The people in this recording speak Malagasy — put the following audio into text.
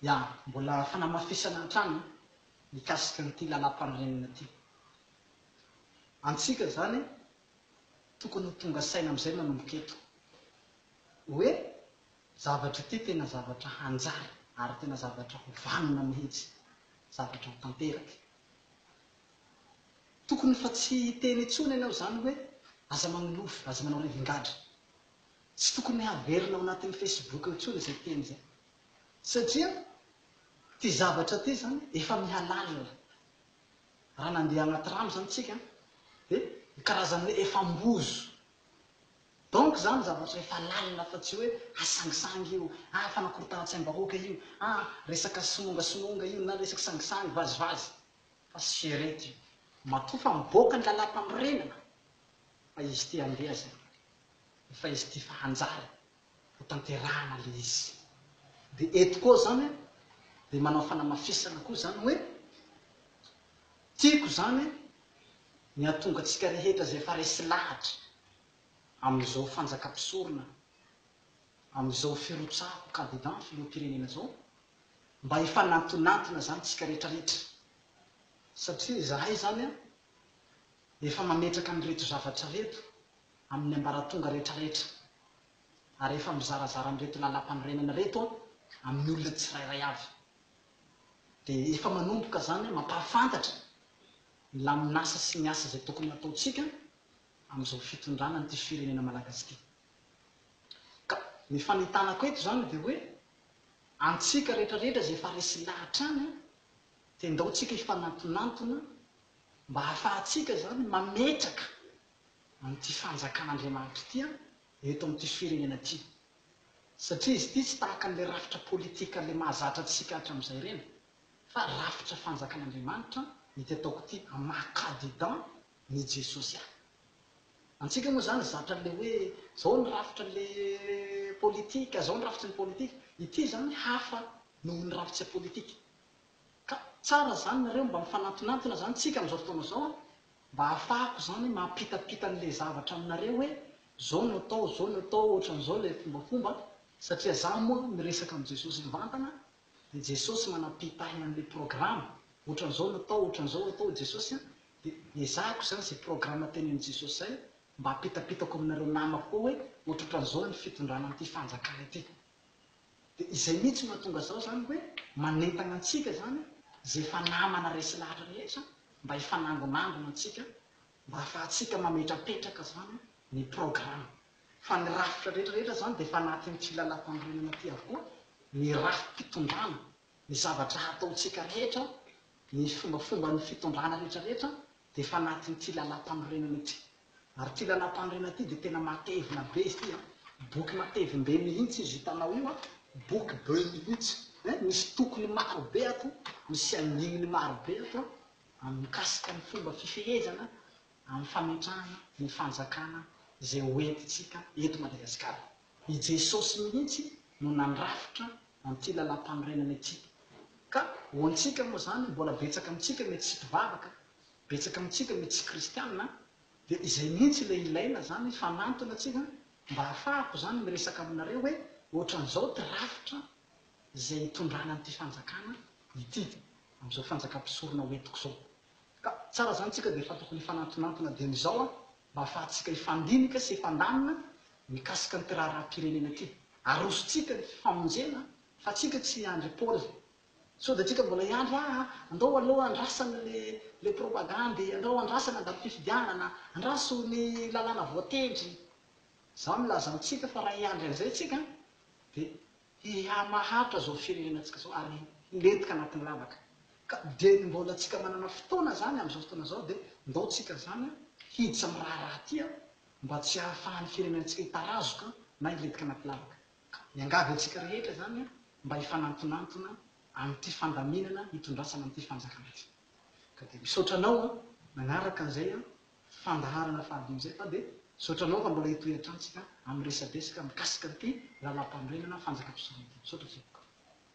Ya, mbola fanamafisana hatrany mikasika an'ity lalam-panorenana ity. Antsika izany tokony ho tonga saina amin'izay manomboka eto hoe zavatra ity tena zavatra hanjary ary tena zavatra ho vanona mihitsy, zavatra ho tanteraka. Tokony fa tsy hiteny intsony ianao izany hoe aza manolofy, aza manao rivingadra. Tsy tokony haverina ao anatin'ny Facebook intsony izay teny izay satria ity zavatra ity izany efa mihalàlina. Raha nandeha anaty rano izany isika dia ny karazany hoe efa ambozo. Donc izany zavatra efa lalina fa tsy hoe hasangisangy io, ah fanakorontanan-tsaim-bahoaka io, ah resaka somongasomonga io na resaka sangisangy, vazivazy. Fa sierety io. Matoa fa mivoaka ny lalàmpanorenana fa izy ity handeha izay. Fa izy ity efa hanjary ho tanterahana ilay izy. Dia eto koa izany dia manao fanamafisana koa izany hoe, tiako izany ny hahatonga antsika rehetra izay efa resy lahatra amin'izao fanjakam-pisorona, amin'izao firotsahako kandida ny filoham-pirenena izao, mba hifanantonantona izany isika rehetrarehetra. Satria izahay izany efa mametraka an'ireto zavatra ireto. amin'ny ambaratonga rehetrarehetra ary efa mizarazara an'ireto lalàmpanorenana ireto amin'ny olona tsirairay avy dia efa manomboka izany mampahafantatra ny lamin'asa sy ny asa izay tokony hataontsika amin'izao fitondrana an'ity firenena malagasy ity ka ny fanitanako eto izany dia hoe antsika rehetrarehetra izay efa resy lahy hatrany dia ndao tsika hifanantonantona mba hahafahantsika izany mametraka amin'ity fanjakan'Andriamanitra ity an, eto amin'ity firenena ity. Satria izy ity tsy tahaka an'ilay rafitra politika ilay mahazatra antsika hatramin'izay ireny, fa rafitra fanjakan'Andriamanitra ity ataoko ity amin'ny maha Kadidan n'i Jesosy ahy. Antsika moa izany zatra an'ilay hoe izao ny rafitra an'ilay politika, izao ny rafitry ny politika. Ity izany hafa noho ny rafitse politika. Ka tsara izany nareo mba mifanantonantona izany tsika amin'izao fotoana izao an, Mba hahafahako izany mampitapita an'ilay zavatra aminareo hoe izao no atao, izao no atao, ohatran'izao ilay fombafomba, satria izaho moa miresaka amin'i Jesosy mivantana, dia Jesosy manampitahy an'ilay programa, ohatran'izao no atao, ohatran'izao atao i Jesosy an, dia ezahiko izany izay programa tenenin'i Jesosy izay mba hampitapitako aminareo namako koa hoe ohatrohatran'izao ny fitondrana an'ity fanjakana ity. Dia izay mihitsy no mahatonga izao izany hoe manentana antsika izany izay efa namana resy lahatra rehetra mba hifanangonangona antsika mba hahafahantsika mametrapetraka izany ny programme. Fa ny rafitra rehetra rehetra izany dia efa anatin'ity lalàmpanorenana ity avokoa, ny rafi-pitondrana, ny zavatra hataontsika rehetra, ny fombafomban'ny fitondrana rehetra rehetra dia efa anatin'ity lalam-panorenana ity. Ary ity lalam-panorenana ity dia tena matevina be izy ity an! Boky matevim be mihitsy izy hitanao io an! Boky be mihitsy eh! Misy tokony maro be ato, misy andininy maro be ato an! Mikasika ny fomba fifehezana amin'ny fametrahana ny fanjakana izay ho entintsika eto Madagasikara. I Jesosy mihitsy no nandrafitra an'ity lalàmpanorenana ity. Ka ho antsika moa izany, mbola betsaka amintsika mety tsy mpivavaka, betsaka amintsika mety tsy kristiana, dia izay mihitsy ilay ilaina izany, fanantona tsika mba hahafahako izany miresaka aminareo hoe ohatran'izao ity rafitra izay hitondrana an'ity fanjakana ity, amin'izao fanjakam-pisorona hoentiko izao. Ka tsara izany tsika dia efa tokony hifanantonantona dieny izao an! Mba hahafahantsika hifandinika sy hifandamina mikasika an'ity raharaham-pirenena ity, arosontsika ny famonjena fa tsika tsy hiandry Paoly. Sao dia antsika mbola hiandry ah andao aloha andrasana le le propagandy, andao andrasana andalo fifidianana, andraso ny lalàna voatendry. Zao no ilazantsika fa raha hiandry an'izay tsika dia hihamahantra izao firenenantsika izao ary hilentika anatin'ny lavaka ka dia ny mbola antsika manana fotoana izany amin'izao fotoana izao dia ndao tsika izany hiditra amin'ny raharaha ity mba tsy hahafahan'ny firenenantsika hitarazoka na hilentika anaty lavaka ka miangavy antsika rehetra izany mba hifanantonantona amin'ity fandaminana hitondrasana an'ity fanjakana ity ka dia misaotra anao manaraka an'izay fandaharana fahadimy izay fa dia misaotra anao raha mbola hitohy hatrany tsika amin'ny resadresaka mikasika an'ity lalàmpanorenana fanjakam-pisorona ity. Misaotra feno.